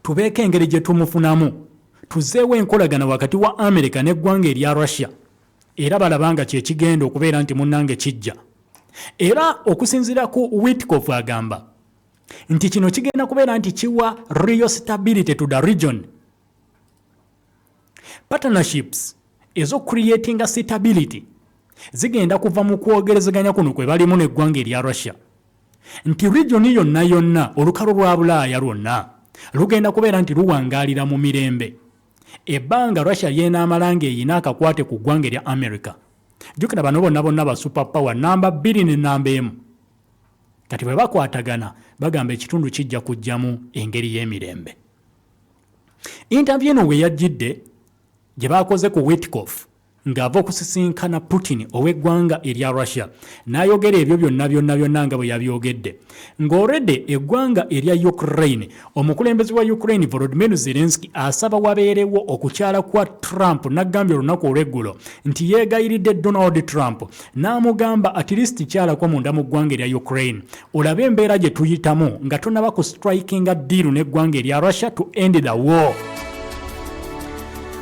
tubeeko engeri gye tumufunamu tuzeewo enkolagana wakati wa amerika n'eggwanga erya russia era balaba nga kyekigenda okubeera nti munnange kijja era okusinziira ku witkof agamba nti kino kigenda kubeera nti kiwa real stability to the region Partnerships ezo creating stability zigenda kuva mu kwogerezeganya kuno kwe balimu n'eggwanga erya Russia nti region yonna yonna olukalo lwa Bulaaya lwonna lugenda kubeera nti luwangaalira mu mirembe ebbanga Russia ly'enaamala ng'eyina akakwate ku ggwanga erya America. Jjukira bano bonna bonna ba super power namba bbiri ne namba emu kati bwe bakwatagana bagamba ekitundu kijja kujjamu engeri y'emirembe. Interview eno we yajjidde gye baakoze ku Witkoff ng'ava okusisinkana Putin ow'eggwanga erya Russia n'ayogera ebyo byonna byonna byonna nga bwe yabyogedde ng'olredde eggwanga erya Ukraine omukulembeze wa Ukraine Volodymyr Zelensky asaba wabeerewo okukyala kwa Trump n'aggambye olunaku olw'eggulo nti yeegayiridde Donald Trump n'amugamba at least kyalako munda mu ggwanga erya Ukraine Olaba embeera gye tuyitamu nga tonaba ku strikinga diiru n'eggwanga erya Russia to end the war.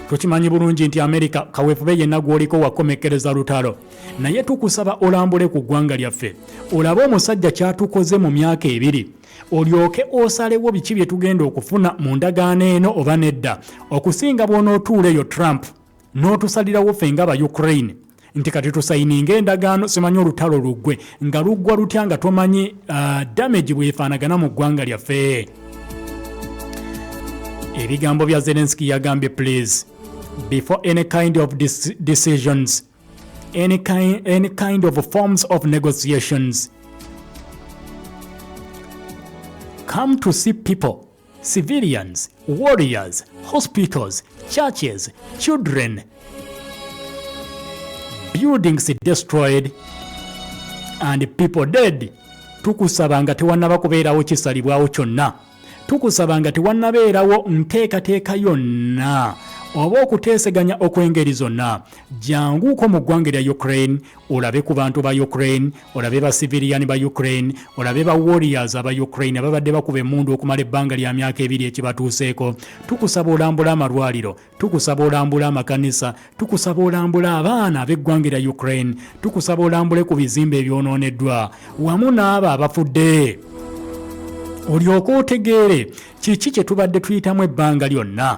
Tukimanyi bulungi nti Amerika kaweefube yenna gw'oliko wakomekkereza lutalo, naye tukusaba olambule ku ggwanga lyaffe olabe omusajja ky'atukoze mu myaka ebiri olyoke osalewo biki bye tugenda okufuna mu ndagaano eno oba nedda okusinga bw'onootuula eyo Trump. n'otusalirawo ffe nga ba ukraine nti kati tusayininga endagaano simanyi olutalo luggwe nga luggwa lutya nga tomanyi uh, damage bwefaanagana mu ggwanga lyaffe ebigambo bya zelenski yagambye please before any kind of decisions any kind, any kind of forms of negotiations come to see people civilians, warriors, hospitals, churches, children, buildings destroyed and people dead. Tukusaba nga tewannaba kubeerawo kisalibwawo kyonna. Tukusaba nga tewannabeerawo nteekateeka yonna oba okuteeseganya okw'engeri zonna janguuko mu ggwanga erya Ukraine olabe ku bantu ba Ukraine, olabe ba civilian ba Ukraine, olabe ba warriors aba Ukraine ababadde bakuba emmundu okumala ebbanga lya myaka ebiri ekibatuuseeko. Tukusaba olambula amalwaliro, tukusaba olambula amakanisa, tukusaba olambula abaana ab'eggwanga lya Ukraine, tukusaba olambule ku bizimbe ebyonooneddwa wamu n'abo abafudde olyoke otegeere kiki kye tubadde tuyitamu ebbanga lyonna.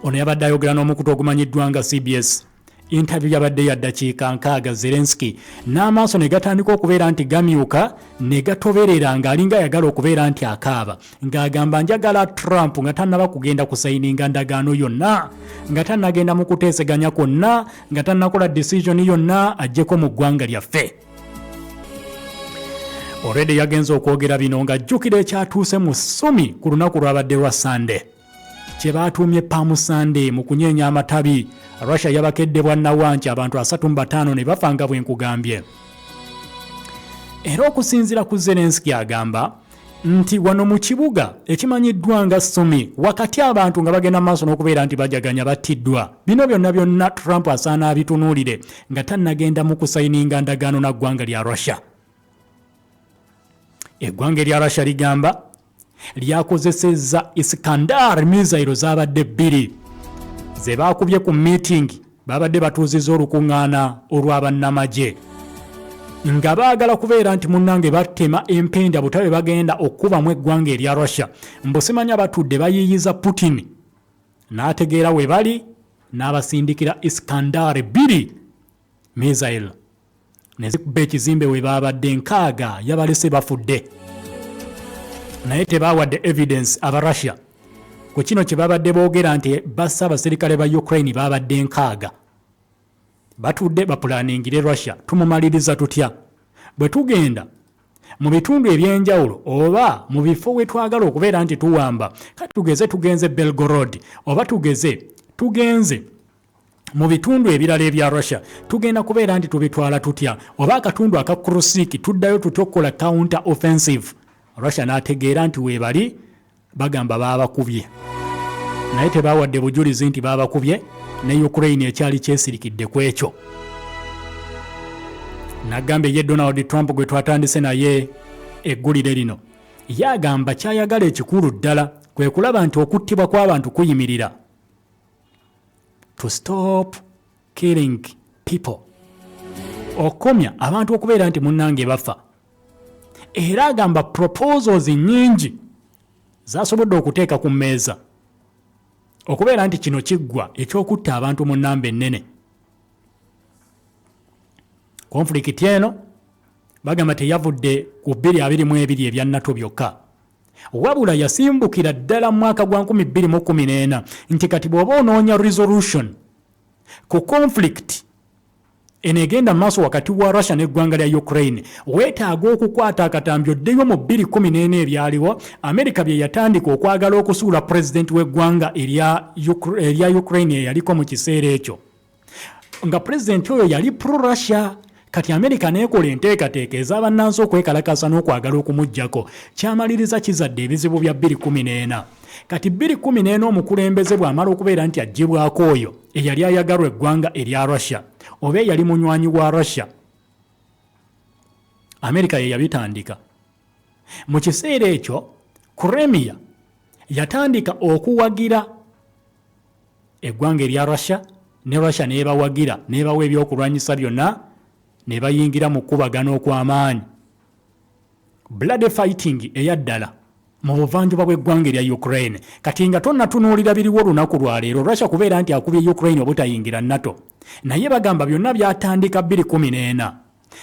Ono yabadde ayogera n'omukutu ogumanyiddwa nga CBS. Intabiyu yabadde ya ddakiika nkaaga Zelensky n'amaaso ne gatandika okubeera nti gamyuka ne gatoberera ng'alinga ayagala okubeera nti akaaba ng'agamba njagala Trump nga tannaba kugenda kusayininga ndagaano yonna nga tannagenda mu kuteeseganya kwonna nga tannakola decision yonna aggyeko mu ggwanga lyaffe olwedde yagenze okwogera bino ng'ajjukira ekyatuuse mu ssumi ku lunaku lwabadde lwa Sunday. kye baatuumye Palm Sunday mu kunyeenya amatabi Russia yabakedde bwa nawanki abantu asatu mu bataano ne bafa nga bwe nkugambye era okusinziira ku Zelensky agamba nti wano mu kibuga ekimanyiddwa nga Sumi wakati abantu nga bagenda maaso n'okubeera nti bajaganya battiddwa bino byonna byonna Trump asaana abitunuulire nga tannagenda mu kusayininga ndagaano na ggwanga lya Russia eggwanga erya Russia ligamba lyakozesezza Iskandar mizayiro zaabadde bbiri ze baakubye ku miitingi baabadde batuuzizza olukuŋŋaana olwa bannamagye nga baagala kubeera nti munnange batema empenda butabe bagenda okukubamu eggwanga erya russia mbusimanya batudde bayiiyiza putin n'ategeera we bali n'abasindikira iskandar bbiri Misail ne zikuba ekizimbe we baabadde nkaaga yabalese bafudde naye tebaawadde evidence aba Russia ku kino kye babadde boogera nti bassa abaserikale ba Ukraine baabadde nkaaga batudde bapulaningire Russia tumumaliriza tutya bwe tugenda mu bitundu eby'enjawulo oba mu bifo we twagala okubeera nti tuwamba kati tugeze tugenze Belgorod oba tugeze tugenze mu bitundu ebirala ebya russia tugenda kubeera nti tubitwala tutya oba akatundu aka krusik tuddayo tutya okukola counter offensive russia n'ategeera nti weebali bagamba baabakubye naye tebaawadde bujulizi nti baabakubye ne ukraine ekyali kyesirikidde ku ekyo nagamba eye donald trump gwe twatandise naye eggulire lino ye agamba kyayagala ekikulu ddala kwe kulaba nti okuttibwa kw'abantu kuyimirira to stop killing people okukomya abantu okubeera nti munnange bafa era agamba proposals nyingi zasobodde okuteeka ku mmeeza okubeera nti kino kiggwa ekyokutta abantu mu nnamba ennene konfulikiti eno bagamba teyavudde ku 222 ebya nato byokka Wabula yasimbukira ddala mu mwaka gwa 2014 nti kati bw'oba onoonya resolution ku conflict eno egenda mu maaso wakati wa Russia n'eggwanga lya Ukraine weetaaga okukwata akatambi oddeyo mu 2014 ebyaliwo Amerika bye yatandika okwagala okusuula pulezidenti w'eggwanga erya Ukraine eyaliko mu kiseera ekyo. nga president oyo yali pro russia kati amerika nekola enteekateeka ez'abannansi okwekalakasa n'okwagala okumugyako kyamaliriza kizadde ebizibu bya 214 kati 214 omukulembeze bw'amala okubeera nti aggyibwako oyo eyali ayagalwa eggwanga erya russia oba eyali munywanyi wa russia amerika ye yabitandika mu kiseera ekyo kuremiya yatandika okuwagira eggwanga erya Russia ne Russia nebawagira nebawa ebyokulwanyisa byonna nebayingira mu kukubagana okw'amaanyi bloody fighting eya ddala mu buvanjuba bw'eggwanga erya Ukraine kati nga tonatunuulira biriwo olunaku lwaleero Russia kubeera nti akubye Ukraine obutayingira NATO naye bagamba byonna byatandika 214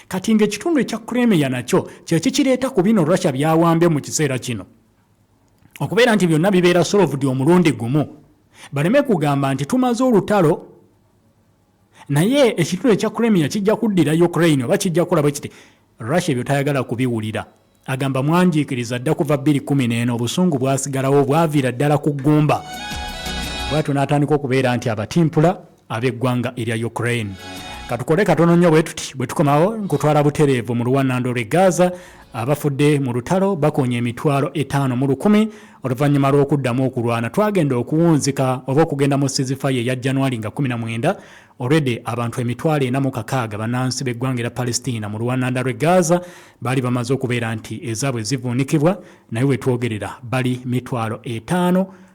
kati ng'ekitundu ekya Crimea nakyo kyekikireeta ku bino Russia byawambye mu kiseera kino okubeera nti byonna bibeera solovudi omulundi gumu baleme kugamba nti tumaze olutalo naye ekitundu ekya cremia kijja kuddira ukraine oba kijja kukola bwe kiti russia ebyo tayagala kubiwulira agamba mwanjiikiriza dda kuva 211 obusungu bwasigalawo bwaviira ddala ku ggumba bwatyo n'atandika okubeera nti abatimpula ab'eggwanga erya Ukraine. Katukole katono nnyo bwe tuti bwe tukomawo nkutwala butereevu mu luwannando lw'e Gaza abafudde mu lutalo bakonya emitwalo etaano mu lukumi oluvannyuma lw'okuddamu okulwana twagenda okuwunzika oba okugenda mu sizifaye eya januari nga 19 olwedde abantu emitwalo ena mu kakaaga bannansi b'eggwanga era palestina mu luwananda lw'e gaza baali bamaze okubeera nti ezaabwe zivuunikibwa naye wetwogerera bali mitwalo etaano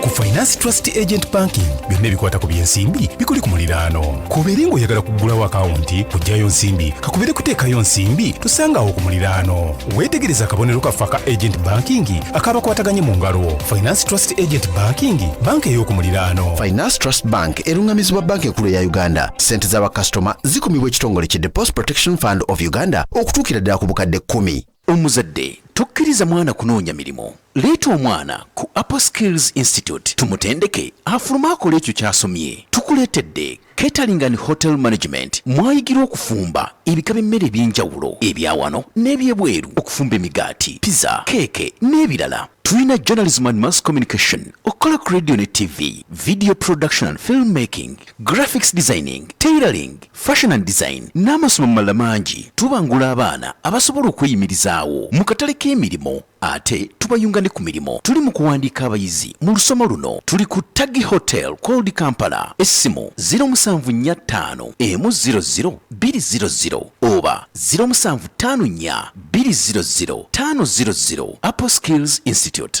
ku finance trust agent banking byonna ebikwata ku byensimbi bikuli ku muliraano kubeere ng'oyagala kuggulawo akawunti kugyayo nsimbi kakubeere kuteekayo nsimbi tusangaawo ku muliraano weetegereza akabonero kaffe aka agent banking akabakwataganye mu ngalo finance trust agent banking banka ey'oku muliraano finance trust bank eruŋŋamizibwa banka enkulu eya uganda ssente za bakasitoma zikumibwa ekitongole ki depost protection fund of uganda okutuukira ddala ku bukadde kkumi Omuzadde tokkiriza mwana kunoonya mirimu. Leeta omwana ku Apple Skills Institute tumutendeke afulume akole ekyo ky'asomye. Tukuleetedde Catering and Hotel Management mwayigirwa okufumba ebika by'emmere eby'enjawulo ebya wano n'ebyebweru, okufumba emigaati, pizza, keeke n'ebirala. Tulina Journalism and Mass Communication, okukola ku radio ne TV, Video Production and Film Making, graphics designing, tailoring, fashion and design n'amasomo amalala mangi. Tubangula abaana abasobola okweyimirizaawo mu katale k'emirimu ate tubayunga ne ku mirimu. Tuli mu kuwandiika abayizi mu lusoma luno. Tuli ku Taggi Hotel called Kampala. Essimu ziro musanvu nnya ttaano emu ziro ziro bbiri ziro ziro oba ziro musanvu ttaano nnya bbiri ziro ziro ttaano ziro ziro. Apple Skills Institute.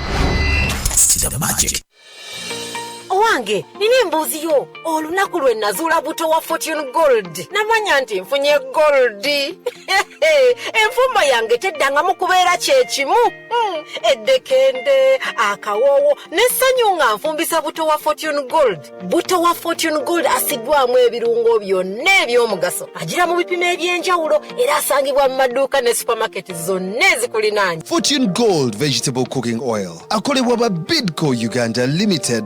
Sida magic. owange nina embuuzi yo olunaku lwe nazuula buto wa fortune gold namanya nti nfunye gold enfumba yange teddangamu kubeera kyekimu hmm, eddekende akawoowo n'essanyu nga nfumbisa buto wa fortune gold butto wa fortune gold asiddwamu ebirungo byonna ebyomugaso agira mu bipimo eby'enjawulo era asangibwa mu maduuka ne supamaketi zonna ezikulinaanya fortune gold vegetable cooking oil akolebwa ba bidco uganda limited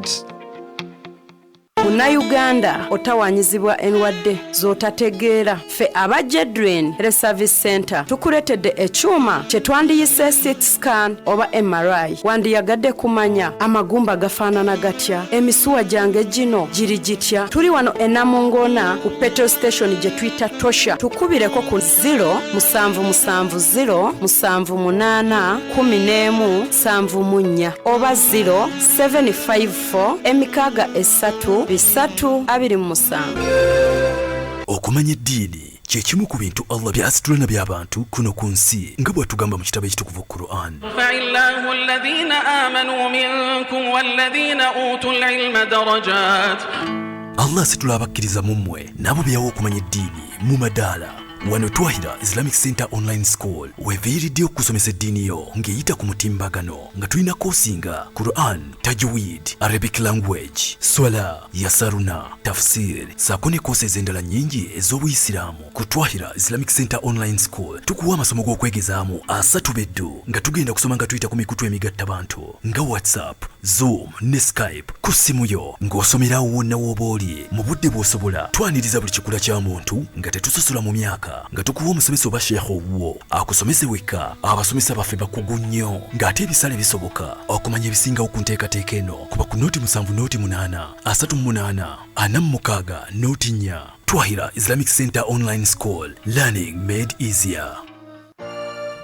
munnayuganda otawanyizibwa endwadde z'otategeera ffe aba jedrin reservice center tukuletedde ekyuma kyetwandiyise sit scan oba mri wandiyagadde kumanya amagumba gafaanana gatya emisuwa gyange gino giri gitya tuli wano enamungona ku petrol station gye tuyita tosha tukubireko ku 0 musanvu musanvu 0 musanvu munaana kumi n'emu nsanvu mu nnya oba 0 754 emikaaga esatu bisatu abiri mu musanvu okumanya eddiini kye kimu ku bintu allah by'asitula na by'abantu kuno ku nsi nga bw'atugamba mu kitabo ekitukuvu quran faillahu alladhina amanu minkum walladhina utu lilma darajat allah asitula abakkiriza mu mmwe n'abo byawa okumanya eddiini mu madaala wano twahira islamic center online school weviiridde okusomesa eddiini yo ng'eyita ku mutimbagano nga tulina koosi nga quran tajwid arabic language swala Yasaruna, Tafsir saako ne koosi ez'endala nnyingi ez'obuyisiraamu ku Twahira Islamic Center Online School. Tukuwa amasomo g'okwegezaamu asatu beddu nga tugenda kusoma nga tuyita ku mikutu emigatta bantu nga WhatsApp, Zoom ne Skype ku ssimu yo ng'osomera awo wonna w'oba oli mu budde bw'osobola. Twaniriza buli kikula kya muntu nga tetusosola mu myaka nga tukuwa omusomesa oba sheikh owuwo. akusomese wekka abasomesa baffe bakugu nnyo ng'ate ebisale bisoboka okumanya ebisingawo ku nteekateeka eno kuba ku nooti musanvu nooti munaana asatu munaana ana mu mukaaga nooti nnya twahira islamic center online school learning made easier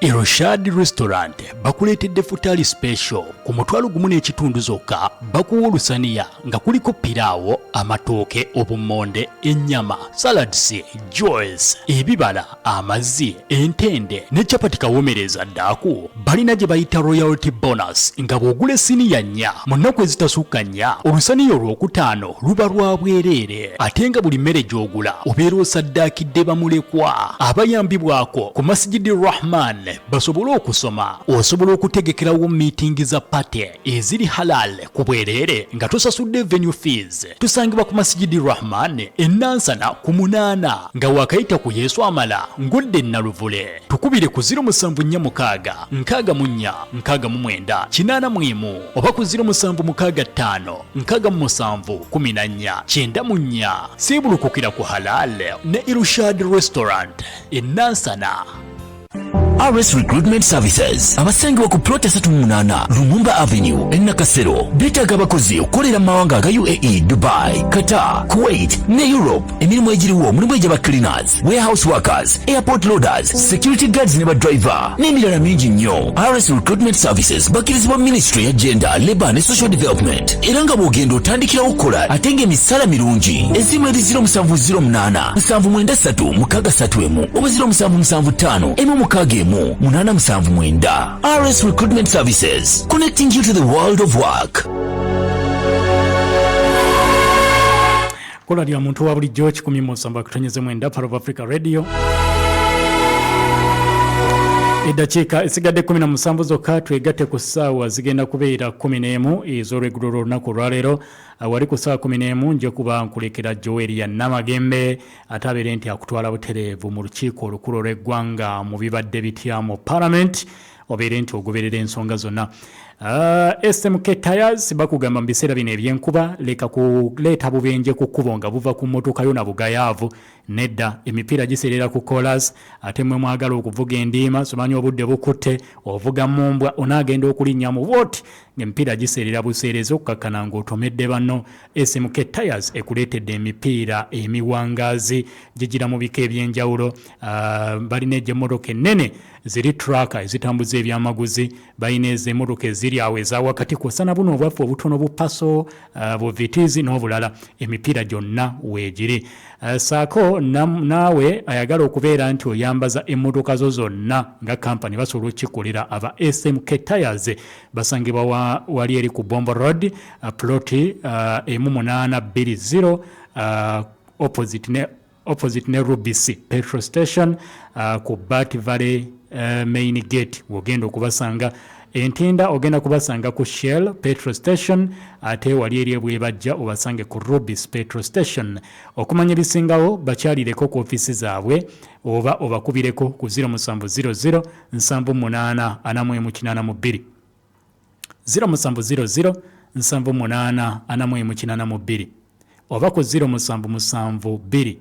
eroshad restaurant bakuleetedde futali special ku mutwalo gumu n'ekitundu zokka bakuwa olusaniya nga kuliko piraawo amatooke obummonde ennyama salads joes ebibala amazzi entende ne capati kawomereza ddaaku balina gye bayita royalty bonus nga bw'ogula esiniya nnya mu nnaku ezitasukka nnya olusaniya olwokutaano luba lwa bwereere ate nga buli mmere gy'ogula obeera osaddaakidde bamulekwa abayambibwako ku masigidi rahman basobole okusoma osobola okutegekerawo miitingi za pate eziri halal ku bwereere nga tusasudde venue fees tusangibwa ku masijidi rahman enansana ku munaana nga wakayita ku yesu amala ngudde naluvule tukubire ku 0746 nkaaga munya nkaaga mu mwenda kinaana mwemu oba ku 0765 nkaaga mu musanvu kumi na nnya kyenda mu nnya siibulukukira ku halal ne irushad restaurant enansana RS Recruitment Services abasangibwa ku plot esatu mu munaana Lumumba Avenue e Nakasero beetaaga abakozi okukolera mu mawanga aga UAE, Dubai, Qatar, Kuwait ne Europe. Emirimu egiriwo mulimu egy'aba cleaners, warehouse workers, airport loaders, security guards ne badriver n'emirala mingi nnyo. RS Recruitment Services bakkirizibwa Ministry ya Gender, Labour ne Social Development era nga bw'ogenda otandikirawo okukola ate ng'emisaala mirungi. Essimu eri 0708 nsanvu mwenda ssatu mukaaga ssatu emu oba ziro musanvu musanvu ttaano emu mukaaga emu munaana musanvu mwenda rs recruitment services connecting you to the world of work kola lya muntu wa bulijjo kikumi mu nsamba kutonyeze mwenda part of africa radio eddakiika esigadde 17 zokka twegatte ku ssaawa zigenda kubeera 11 ez'olwegulo lw'olunaku olwaleero wali ku saa kumi n'emu nja kuba nkulekera joeri ya namagembe ate abeere nti akutwala butereevu mu lukiiko olukulu olw'eggwanga mu bibadde bitya mu palamenti obeere nti ogoberera ensonga zonna ah, smk tires bakugamba mu biseera bino ebyenkuba leka kuleeta bubenje ku kkubo nga buva ku mmotoka yo na bugayaavu nedda emipiira giseerera ku colas ate mwe mwagala okuvuga endiima somanya obudde bukutte ovuga mumbwa onaagenda okulinnya mu wot ng'emipiira giseerera buseerezi okukakkana ng'otomedde banno smk tires ekuleetedde emipiira emiwangaazi gigira mu bika eby'enjawulo ah, balina egy'emmotoka ennene ziri traka ezitambuza ebyamaguzi balina ezo emmotoka eziri awo eza wakati kwossa na buno obwaffe obutono bupaso ah, buvitizi n'obulala emipiira gyonna weegiri ah, saako naawe ayagala okubeera nti oyambaza emmotoka zo zonna nga kampani basobola okukikolera aba smk tires basangibwa wa, wali eri ku bombo road uh, ploti uh, emu munaana bbiri zero uh, opposite ne opposite ne rubisi petrol station uh, ku bat valley uh, main gate wogenda okubasanga entinda ogenda kubasanga ku shell petro station ate wali eri ebwebajja obasange ku rubis petro station okumanya ebisingawo bakyalireko ku ofisi zaabwe oba obakubireko ku 0700 nsanvu munaana ana mu emu kinaana mu bbiri ziro musanvu ziro ziro nsanvu munaana ana mu emu kinaana mu bbiri oba ku ziro musanvu musanvu bbiri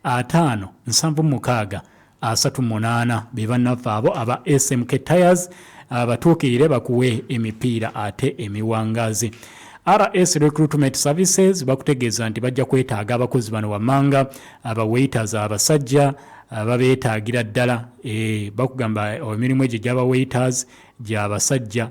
ataano nsanvu mukaaga asatu munaana be bannaffe abo aba smk tires abatuukirire bakuwe emipiira ate emiwangaazi rs recruitment services bakutegeeza nti bajja kwetaaga abakozi bano wammanga abawaiters abasajja Ah, babeetaagira ddala eh, bakugamba oh, emirimu egyo gyaba waiters gya basajja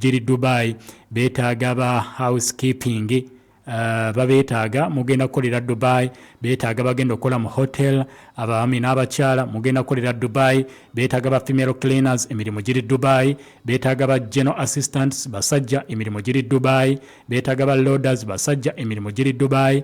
giri dubai beetaaga ba house keeping ah, babeetaaga mugenda kukolera dubai beetaaga bagenda okukola mu hotel abaami n'abakyala mugenda kukolera dubai beetaaga ba female cleaners emirimu giri dubai beetaaga ba general assistants basajja emirimu giri dubai beetaaga ba loaders basajja emirimu giri dubai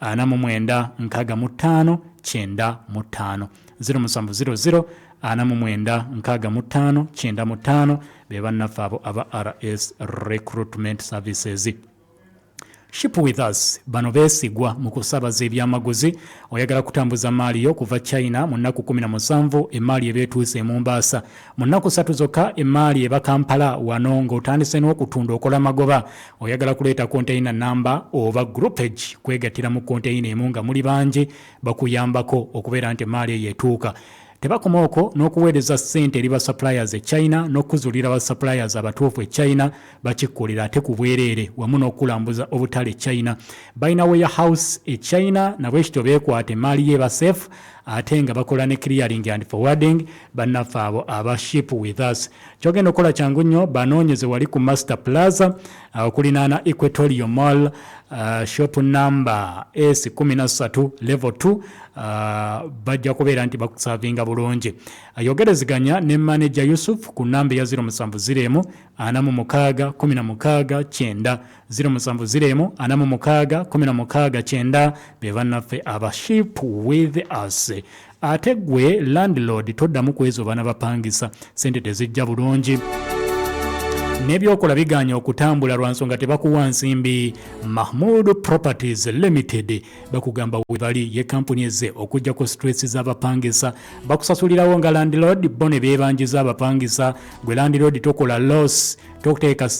ana mu mwenda nkaaga mu ttaano kyenda mu ttaano ziro musanvu ziro ziro ana mu mwenda nkaaga mu ttaano kyenda mu ttaano be bannaffe abo aba rs recruitment services ship with us bano beesigwa mu kusabaza ebyamaguzi oyagala kutambuza maali yo kuva china mu nnaku 17 emaali ebeetuuse emumbaasa Mu nnaku ssatu zokka emmaali eba Kampala wano ng'otandise n'okutunda okola magoba. Oyagala kuleeta konteyina nnamba oba groupage kwegattira mu konteyina emu nga muli bangi bakuyambako okubeera nti emmaali eyo etuuka. Tebakoma okwo n'okuweereza ssente eri ba suppliers e China n'okukuzuulira ba suppliers abatuufu e China bakikkolera ate ku bwereere wamu n'okukulambuza obutale e China. Balina warehouse e China nabwekityo beekwata emmaali ye eba safe ate nga bakola ne clearing and forwarding bannaffe abo aba ship with us kyogenda okukola kyangu nnyo banoonyeze wali ku master plaza uh, okulinaana equatorio mall uh, shop number s 13 level 2 uh, bajja kubeera nti bakusavinga bulungi ayogereziganya ne manaja yusuf ku namba eya 0704 46 9 Ziro musanvu ziro emu ana mu mukaaga kumi na mukaaga kyenda be bannaffe aba ship with us ate gwe landlord toddamu kwezo bana bapangisa sente tezijja bulungi nebyokola biganye okutambula lwa nsonga tebakuwa nsimbi mahmud properties limited bakugamba webali ye kampuni eze okujjako stress z'abapangisa bakusasulirawo nga landlord bo ne bebanjiza abapangisa gwe landlord tokola loss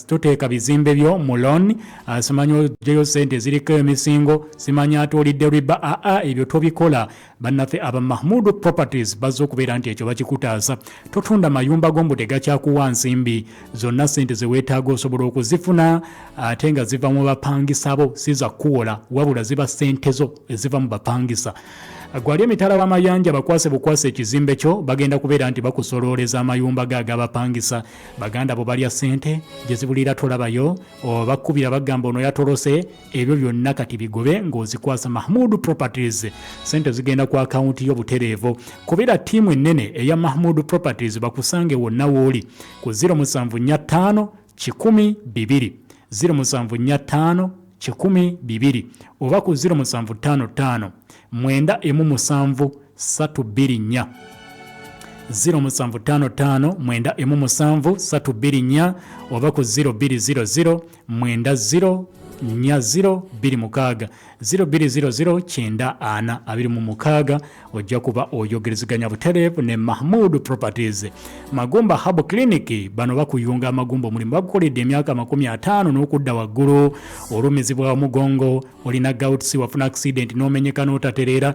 toteeka bizimbe byo mu loan ah, simanya ojeyo sente eziriko emisingo simanya atuulidde riba aa ah, ah, ebyo tobikola bannaffe aba mahmudu properties bazze okubeera nti ekyo bakikutaasa totunda mayumba gombu tegakyakuwa nsimbi zonna sente zeweetaaga osobola okuzifuna ate nga ziva mu bapangisa bo si zakuwola wabula ziba sente zo eziva mu bapangisa gwali emitala w'amayanja bakwase bukwase ekizimbe kyo bagenda kubeera nti bakusolooleza amayumba ge agabapangisa baganda bo balya sente gyezibulira tolabayo obakkubira bagamba ono yatolose ebyo byonna kati bigobe ng'ozikwasa mahmud properties sente zigenda ku akawunti yo butereevu kubira ttiimu ennene eya mahmud properties bakusange wonna wooli ku 0745 12 0745 12 oba ku 0755 mwenda emu musanvu satu bbiri nnya ziro musanvu ttaano ttaano mwenda emu musanvu satu bbiri nnya oba ku ziro bbiri ziro ziro mwenda ziro nnya 026 0200 kyenda ana abiri mu mukaaga ojja kuba oyogerezeganya butereevu ne mahmud properties magumba hab clinic bano bakuyunga amagumba omulimu bagukoledde emyaka amakumi ataano n'okudda waggulu olumizibwa omugongo olina gauts wafuna accident n'omenyeka n'otatereera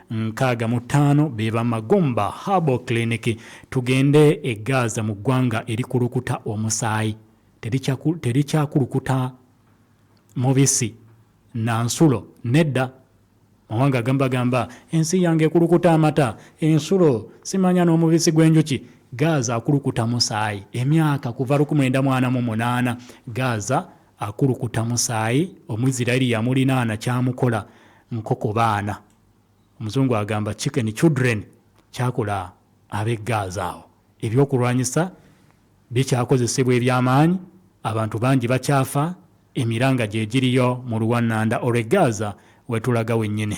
nkaaga mu ttaano be ba Magomba Herbal Clinic. Tugende e Gaza mu ggwanga erikulukuta omusaayi, terikyakulukuta mubisi na nsulo nedda. Mawanga agamba gamba ensi yange ekulukuta amata, ensulo, simanya n'omubisi gw'enjuki. Gaza akulukuta musaayi emyaka kuva lukumwenda mwana mu munaana. Gaza Akulukuta musaayi, Omuisiraeri yamulinaana kyamukola nkoko baana, Omuzungu agamba chicken children, kyakola ab'e Gaaza. Awo eby'okulwanyisa bikyakozesebwa eby'amaanyi, abantu bangi bakyafa, emiranga gye giriyo mu luwannanda olw'e Gaaza we tulaga wennyini.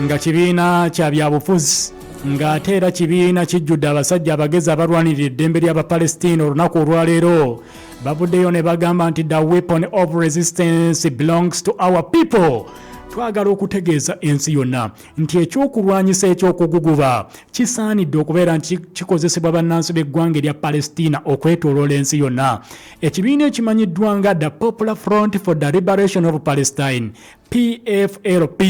nga kibiina kya byabufuzi ng'ate era kibiina kijjudde abasajja abagezi abalwanirira eddembe ly'abapalestina olunaku olwaleero bavuddeyo ne bagamba nti the weapon of resistance belongs to our people twagala okutegeeza ensi yonna nti ekyokulwanyisa ekyokuguguba kisaanidde okubeera nti kikozesebwa bannansi b'eggwanga erya palestina okwetoloola ensi yonna ekibiina ekimanyiddwa nga the popular front for the liberation of palestine pflp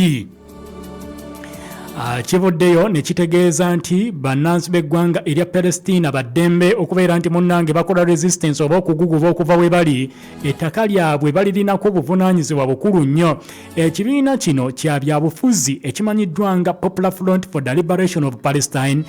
ah, kivuddeyo ne kitegeeza nti bannansi b'eggwanga erya palestina baddembe okubeera nti munnange bakola resistance oba okuguguba okuva we bali ettaka lyabwe balirinako obuvunaanyizibwa bukulu nnyo ekibiina kino kya byabufuzi ekimanyiddwa nga popular front for the liberation of palestine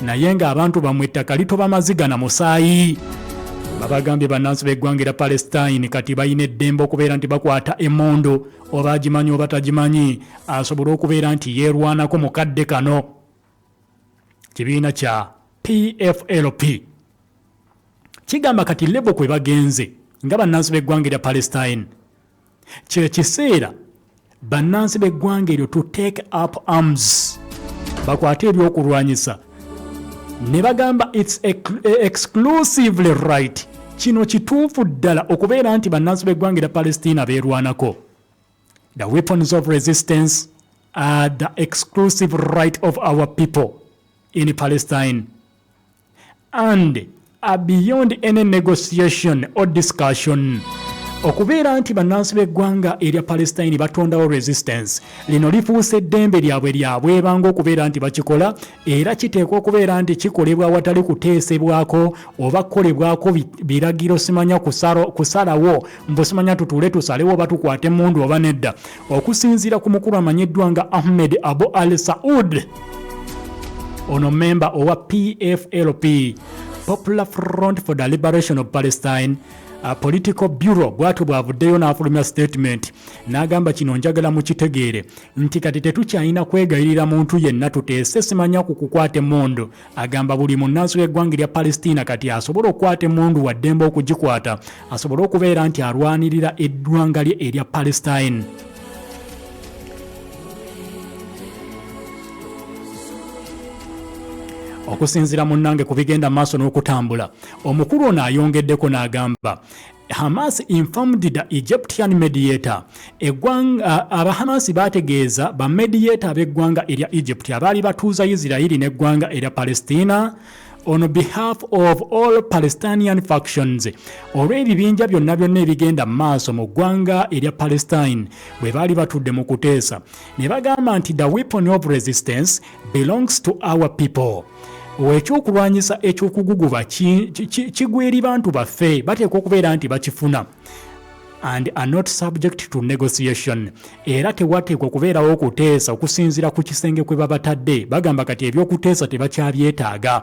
naye nga abantu bamwe ettaka litoba maziga na musaayi babagambye bannansi b'eggwanga era palestine kati balina eddembe okubeera nti bakwata emundu oba agimanyi oba tagimanyi asobole okubeera nti yeerwanako mu kadde kano kibiina kya pflp kigamba kati lebo kwe bagenze nga bannansi b'eggwanga erya palestine Kye kiseera bannansi b'eggwanga eryo to take up arms bakwate ebyokulwanyisa ne bagamba its e, exclusively right kino kituufu ddala okubeera nti bannansi b'eggwanga erya palestina beerwanako the weapons of resistance are the exclusive right of our people in palestine and are beyond any negotiation or discussion okubeera nti bannansi b'eggwanga erya palestine batondawo resistance lino lifuuse eddembe lyabwe lyabwebanga okubeera nti bakikola era kiteekwa okubeera nti kikolebwa awatali kuteesebwako oba kukolebwako biragiro simanya kusalawo mbu simanya tutuule tusalewo oba tukwate mundu oba nedda Okusinziira ku mukulu amanyiddwa nga Ahmed Abu Al Saud, ono memba owa PFLP, Popular Front for the Liberation of Palestine, a political bureau bwatyo bwavuddeyo n'afulumya statement n'agamba kino njagala mukitegeere nti kati tetukyalina kwegayirira muntu yenna tuteese simanya ku kukwata emmundu Agamba buli munnansi w'eggwanga erya Palestina kati asobola okukwata emmundu wa ddembe okugikwata asobole okubeera nti alwanirira eggwanga lye erya Palestine. okusinzira munnange ku bigenda maaso n'okutambula omukulu ono ayongeddeko n'agamba Hamas informed the Egyptian mediator. Egwanga aba Hamas bategeeza ba mediator ab'eggwanga erya Egypt abaali batuuza Isirairi n'eggwanga erya Palestina on behalf of all Palestinian factions olw'ebibinja byonna byonna ebigenda mu maaso mu ggwanga erya Palestine bwe baali batudde mu kuteesa ne bagamba nti the weapon of resistance belongs to our people ekyokulwanyisa ekyokuguguba kigweri bantu baffe bateekwa okubeera nti bakifuna and are not subject to negotiation era tewateekwa okubeerawo okuteesa okusinziira ku kisenge kwe babatadde bagamba kati ebyokuteesa tebakyabyetaaga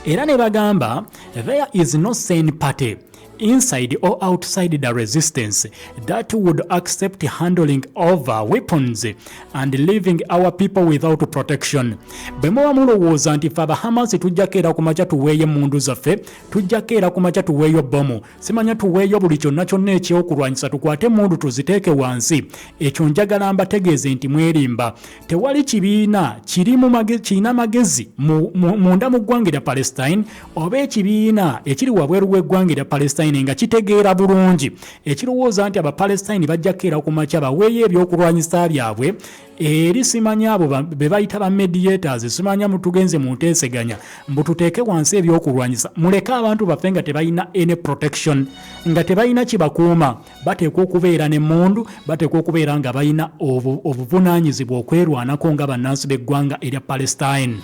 era ne bagamba there is no sen party inside or outside the resistance that would accept handling over weapons and leaving our people without protection bwe muba mulowooza nti fe abahamasi tujjako era ku makya tuweeyo emmundu zaffe tujjako era ku makya tuweeyo bbomu simanya tuweeyo buli kyonna kyonna ekyokulwanyisa tukwate emmundu tuziteeke wansi ekyo njagala mbategeeze nti mwerimba tewali kibiina kirina magezi munda mu ggwanga erya palestine oba ekibiina ekiri wabweru w'eggwanga erya palestine nga kitegeera bulungi ekirowooza nti abapalestine bajja kukeera ku makya baweeyo ebyokulwanyisa byabwe eri simanyi abo be bayita ba mediators simanya mutugenze mu nteeseganya mbu tuteeke wansi ebyokulwanyisa muleke abantu baffe nga tebalina any protection nga tebalina kibakuuma bateekwa okubeera n'emmundu bateekwa okubeera nga balina obuvunaanyizibwa okwerwanako nga bannansi b'eggwanga erya palestine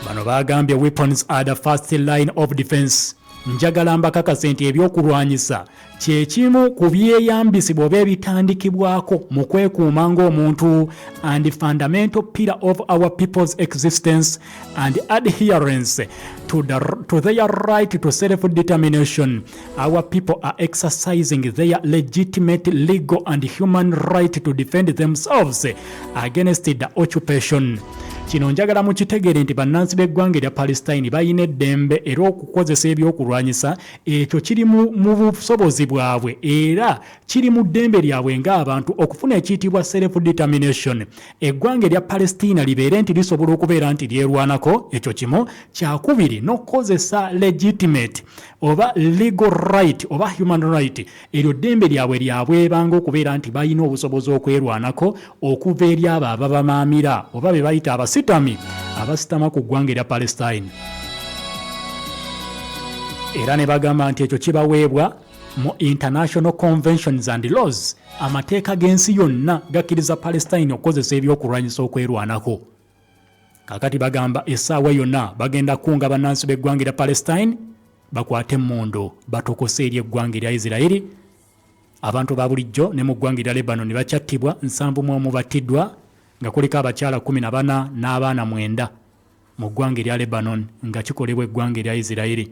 bano baagambye weapons are the first line of defense njagala mbakakase nti ebyokulwanyisa kyekimu ku byeyambisibwa oba ebitandikibwako mu kwekuuma ng'omuntu and fundamental pillar of our people's existence and adherence to, the, to their right to self-determination. Our people are exercising their legitimate legal and human right to defend themselves against the occupation. kino njagala mukitegeere nti bannansi b'eggwanga erya palestine balina eddembe era okukozesa ebyokulwanyisa ekyo kiri mu busobozi bwabwe era kiri mu ddembe lyabwe ng'abantu okufuna ekiyitibwa self determination Eggwanga erya Palestina libeere nti lisobola okubeera nti lyerwanako, ekyo kimu. Kyakubiri n'okukozesa legitimate oba legal right oba human right, eryo ddembe lyabwe lya bwebanga okubeera nti balina obusobozi okwerwanako okuva eri abo ababamaamira oba be bayita abasitami abasitama ku ggwanga erya Palestine. Era ne bagamba nti ekyo kibaweebwa mu international conventions and laws amateeka g'ensi yonna gakkiriza palestine okukozesa ebyokulwanyisa okwerwanako kakati bagamba essaawa yonna bagenda kukunga bannansi b'eggwanga erya palestine bakwate emmundu batokose eri eggwanga erya isiraeri abantu ba bulijjo ne mu ggwanga erya lebanoni bakyattibwa nsanvu mu omu battiddwa nga kuliko abakyala 14 n'abaana mwenda mu ggwanga erya lebanon nga kikolebwa eggwanga erya isiraeri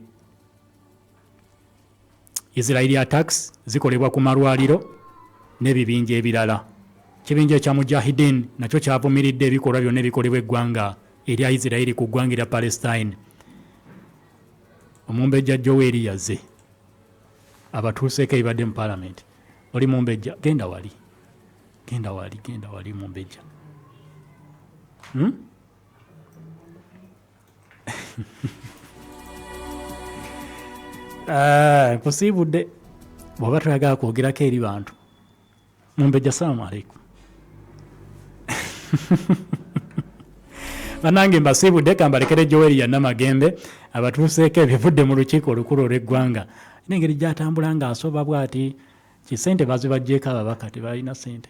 Israeli attacks zikolebwa ku malwaliro n'ebibinja ebirala. Ekibinja ekya Mujahideen nakyo kyavumiridde ebikolwa byonna ebikolebwa eggwanga erya Israeli ku ggwanga erya Palestine. Omumbejja Joel yaze abatuuseeko ebibadde mu palamenti. Oli mumbejja genda wali genda wali genda wali mumbejja hmm? Eh, nkusiibudde bwaba toyagala kwogerako eri bantu mumbejja salaamu aleikum banange mbasiibudde kambalekere joeli yanamagembe abatuuseeko ebivudde mu lukiiko olukulu olw'eggwanga nengeri gyatambula ng'asoba bwati kisente bazibajjeeko ababaka tebalina sente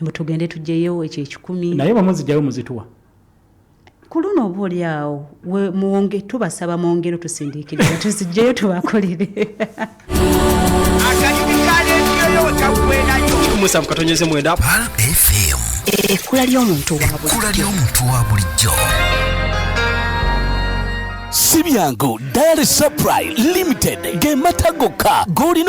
mbu tugende tugyeyo ekyo ekikumi naye bamuzijjayo muzituwa ku luno oba oli awo mwonge tubasaba mwongere tusindikiriza tuzijjeyo tubakolere musanvu katonyeze mwenda fm ekkula ly'omuntu wa bulijjo si byangu dare supply limited ge mata gokka g'olina